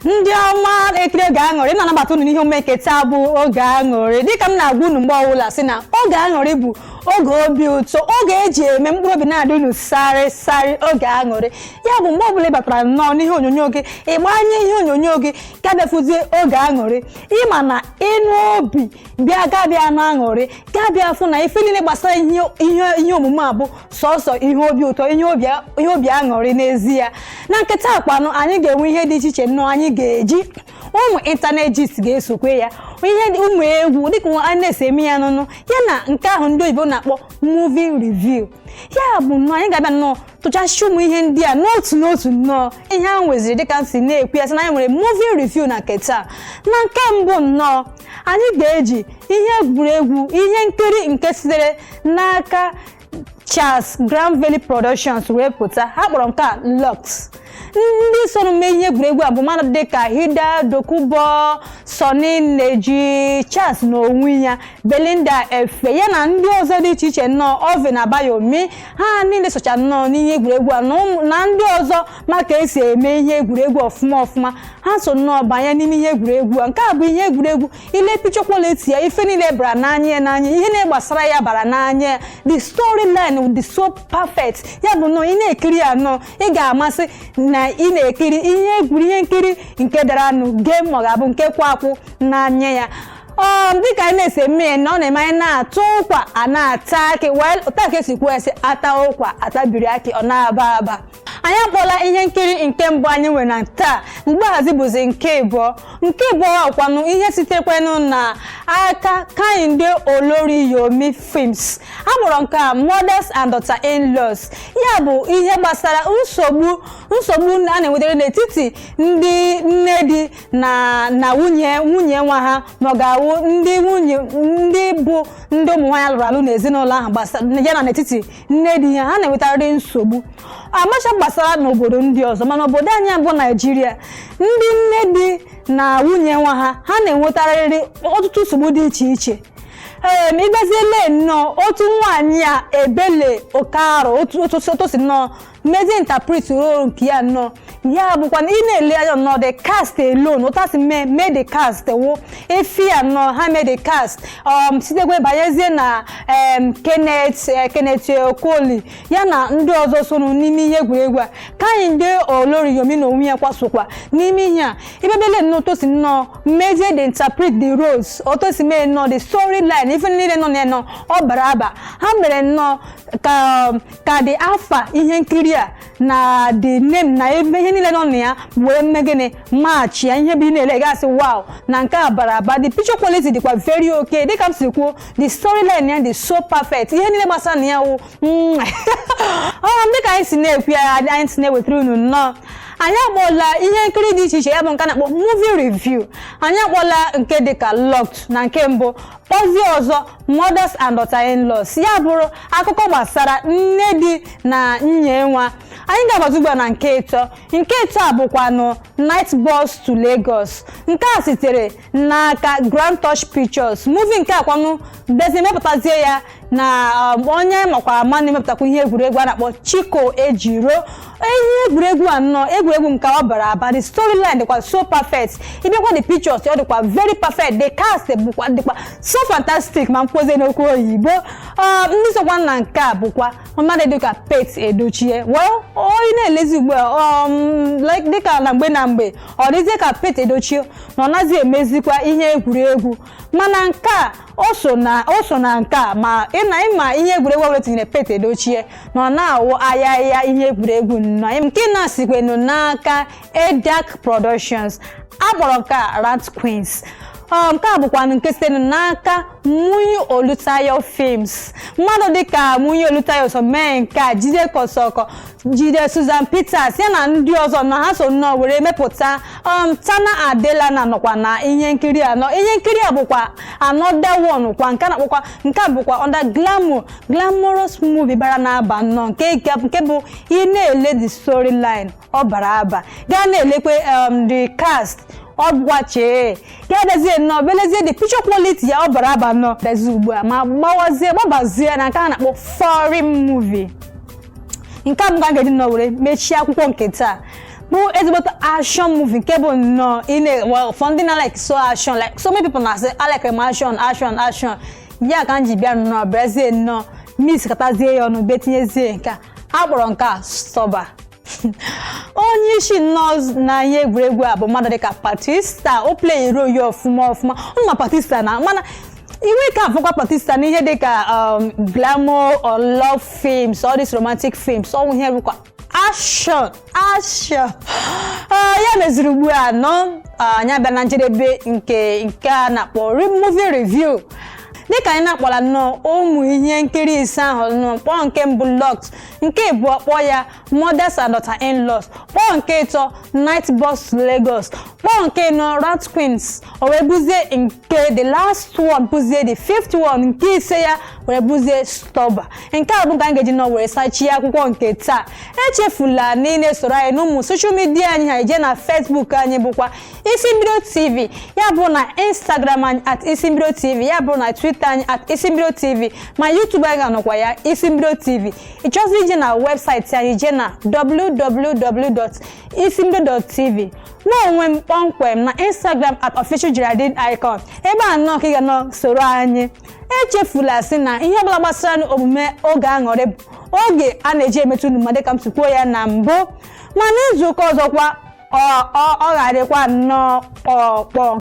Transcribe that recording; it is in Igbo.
ndị ọma na-ekiri oge aṅụrị na-anabata unu n'ihe omume nke taa bụ oge aṅụrị dịka m na-agwa unu mgbe ọbụla sị na oge aṅụrị bụ oge obi ụtọ oge eji eme mkpụrụ obi na-adị unu sarị sarị oge aṅụrị ya bụ mgbe ọbụla ị batara nnọọ n'ihe onyonyo gị ị gbanye ihe onyonyo gị gaa bịa fụzie oge aṅụrị ị ma na ịnụ obi bịa gaa bịa nụ aṅụrị gaa bịa fụ na ife niile gbasara ihe ihe ihe omume a bụ sọsọ ihe obi ụtọ ihe obi ihe obi aṅụrị n'ezie na nke taa kwanụ anyị ga-enwe ihe dị iche iche nnọọ anyị ga-eji ụmụ internet gist ga-esokwe ya ihe dị- ụmụ egwu dịka nwa- anyị na-esi eme ya nnọọ ya na nke ahụ ndị oyibo na-akpọ movie review ya bụ nnọọ anyị ga-abịa nnọọ tụchasịcha ụmụ ihe ndị a n'otu n'otu nnọọ ihe a nweziri dịka m si na-ekwu ya sị na anyị nwere movie review na nke taa na nke mbụ nnọọ anyị ga-eji ihe egwuregwu ihe nkiri nke sitere n'aka Charles Granville Productions wee pụta ha kpọrọ nke a Locked ndị soro mee ihe egwuregwu a bụ mmadụ dịka Hilda Dokubo Sunny Neji Charles na onwe ya Belinda Effah ya na ndị ọzọ dị iche iche nnọọ Alvin Abayomi ha niile socha nnọọ n'ihe egwuregwu a na ụmụ- na ndị ọzọ ma ka esi eme ihe egwuregwu ọfụma ọfụma ha so nnọọ banye n'ime ihe egwuregwu a nke a bụ ihe egwuregwu i lee picture quality ya ife niile bara n'anya ya n'anya ihe niile gbasara ya bara n'anya ya the storyline dị so perfect ya bụ nnọọ ị na-ekiri ya nnọọ ị ga-ama sị na ị na-ekiri ihe egwuri ihe nkiri nke dara ọnụ gee ma ọ ga-abụ nke kwụ akwụ n'anya ya ọ dịka anyị na-esi eme ya na ọ na-eme anyị na-ata ụkwa a na-ata akị well otu a ka esi kwuo esi ata ụkwa atabiri akị ọ na-aba aba anyị akpọla ihe nkiri nke mbụ anyị nwere na taa mgbe ahụzi bụzi nke ịbụọ nke ịbụọ kwanụ ihe sitekwanụ na aka Kehinde Olorunyomi films a kpọrọ nke a mothers and daughter in laws ya bụ ihe gbasara nsogbu nsogbu a na-enwetere n'etiti ndị nne di na na nwunye nwunye nwa ha ma ọ ga-awụ ndị nwunye ndị bụ ndị ụmụ nwaanyị alụrụ alụ n'ezinụlọ ahụ gbasara ya na n'etiti nne di ya ha na-enwetarịrị nsogbu amacha gbasara n'obodo ndị ọzọ mana obodo anyị bụ naijiria ndị nne di na nwunye nwa ha ha na-enwetarịrị ọtụtụ nsogbu dị iche iche ee ị bịazie lee nnọọ otu nwaanyị a Ebele Okaro otu otu otu o si nnọọ mezie interpret role nke ya nnọọ ya bụkwa na ị na-ele anya nnọọ the cast alone otu ha si mee mee the cast wụ efi ya nnọọ ha mee the cast um, sitekwe banyezie na um, Kenneth eh, Kenneth Okoli ya na ndị ọzọ soro n'ime ihe egwuregwu a Kehinde Olorunyomi na onwe ya kwa sokwa n'ime ihe a ị bịa lee nnọọ otu o si nnọọ mezie they interpret the roles otu o si mee nnọọ the story line ife niile nọ na ya nọ ọ bara aba ha mere nnọọ ka um, ka the afa ihe nkiri a na the name na ebe ihe niile nọ na ya wee mee gịnị match ya ihe bụ ị na-ele ga-asị wow na nke a bara aba the picture quality dịkwa very okay dịka m si kwuo the storyline ya dị so perfect ihe niile gbasara na ya wụ mm. ọ dịka anyị si na-ekwu ya anyị si na-ewetara unu nnọọ anyị akpọla ihe nkiri dị iche iche ya bụ nke a na-akpọ movie review anyị akpọla nke dịka Locked na nke mbụ Ozi ọzọ mothers and daughter-in-laws ya bụrụ akụkọ gbasara nne di na nwunye nwa anyị ga-agbazi ugbu a na nke ịtọ nke ịtọ a bụkwanụ Night Bus to Lagos nke a sitere n'aka Grand Touch Pictures movie nke a kwanụ bezi mepụtazie ya na um, onye a makwa ama na-emepụtakwa ihe egwuregwu a na-akpọ Chico Ejiro ihe egwuregwu a nnọọ egwuregwu nke ọ bara aba the storyline dịkwa so perfect ị bịakwa the pictures ọ dịkwa very perfect the cast bụkwa dịkwa so fantastic ma m kpọzie n'okwu oyibo um, ndị sokwa na nke a bụkwa mmadụ dịka Pete Edochie well onye na-elezi ugbu a um, like dịka na mgbe na mgbe ọ dịzie ka Pete Edochie na ọ naghị emezikwa ihe egwuregwu mana nke a o so na o so na nke a ma ị na ị ma ihe egwuregwu ọbụla tinyere Pete Edochie na ọ na-awụ ayaya ihe egwuregwu nnọọ nke na-asikwenu n'aka Edak Productions a kpọrọ nke a Rant Queens Ọ, nke a bụkwa nke site n'aka Muyi Olutayo Films mmadụ dịka Muyi Olutayo so mee nke a Jide Kosoko Jide Susan Peters ya na ndị ọzọ nnọọ ha so nnọọ were mepụta um, Tana Adelana nọkwa na ihe nkiri a nnọọ ihe nkiri a bụkwa another one kwa nke a na-akpọkwa nke a bụkwa under glamour glamorous movie bara na-aba nnọọ nke nke- nke bụ ị na-ele the storyline ọ bara aba gaa na-elekwe um, the cast ọ bụkwa chee ya bịazie nnọọ belezie the picture quality ya ọ bara aba nnọọ bịazi ugbu a ma gbawazie gbabazie na nke a na-akpọ foreign movie nke a bụ nke m ga-eji nnọọ were mechie akụkọ nke taa bụ ezigbote action movie nke bụ nnọọ ị na- well, for ndị na like so action like so many people na-asị I like m action action action ya ka m ji bịa nnọọ bịazie nnọọ mix kọtazie ya ọnụ betinyezie nke a a kpọrọ nke a Stuber onye isi nnọọ na ihe egwuregwu a bụ mmadụ dịka Batista ọ play role ya ọfụma ọfụma ụnụ ma Batista na mana inwe ka afụkwa Batista n'ihe dịka um, glamour or love films all these romantic films ọ na-awụ ihe rụkwa action action Ah, ya meziri ugbu a nnọọ ah, anyị abịa na njedebe nke nke a na-akpọ re- movie review dịka anyị na-akpọla nnọọ ụmụ ihe nkiri ise ahụ nnọọ m kpọrọ nke mbụ Locked nke ịbụọ kpọọ ya mothers and daughter in laws kpọọ nke ịtọ night bus to lagos kpọọ nke ịnọ rant queens o wee bụzie nke the last one bụzie the fifth one nke ise ya wee bụzie stuber nke a bụ ka anyị ga-eji nọ were sachie akwụkwọ nke taa echefula na ị na-esoro anyị n'ụmụ social media anyị ha i jee na facebook anyị bụkwa isimbido tv ya bụ na instagram anyị at isimbido tv ya bụ na twitter anyị at isimbido tv ma youtube anyị ga-anọkwa ya isimbido tv ị chọzie ije na webụsaịtị anyị jee na www.isimbido.tv mụ onwe m kpọmkwem na instagram at official geraldine icon ebe a nnọọ ka ị ga-anọ soro anyị echefula sị na ihe ọbụla gbasara omume oge aṅụrị bụ oge a na-eji emetụ unu ma dịka m si kwuo ya na mbụ ma n'izuụka ọzọkwa ọ ọ ọ ga-adịkwa nnọọ kpọọ kpọọ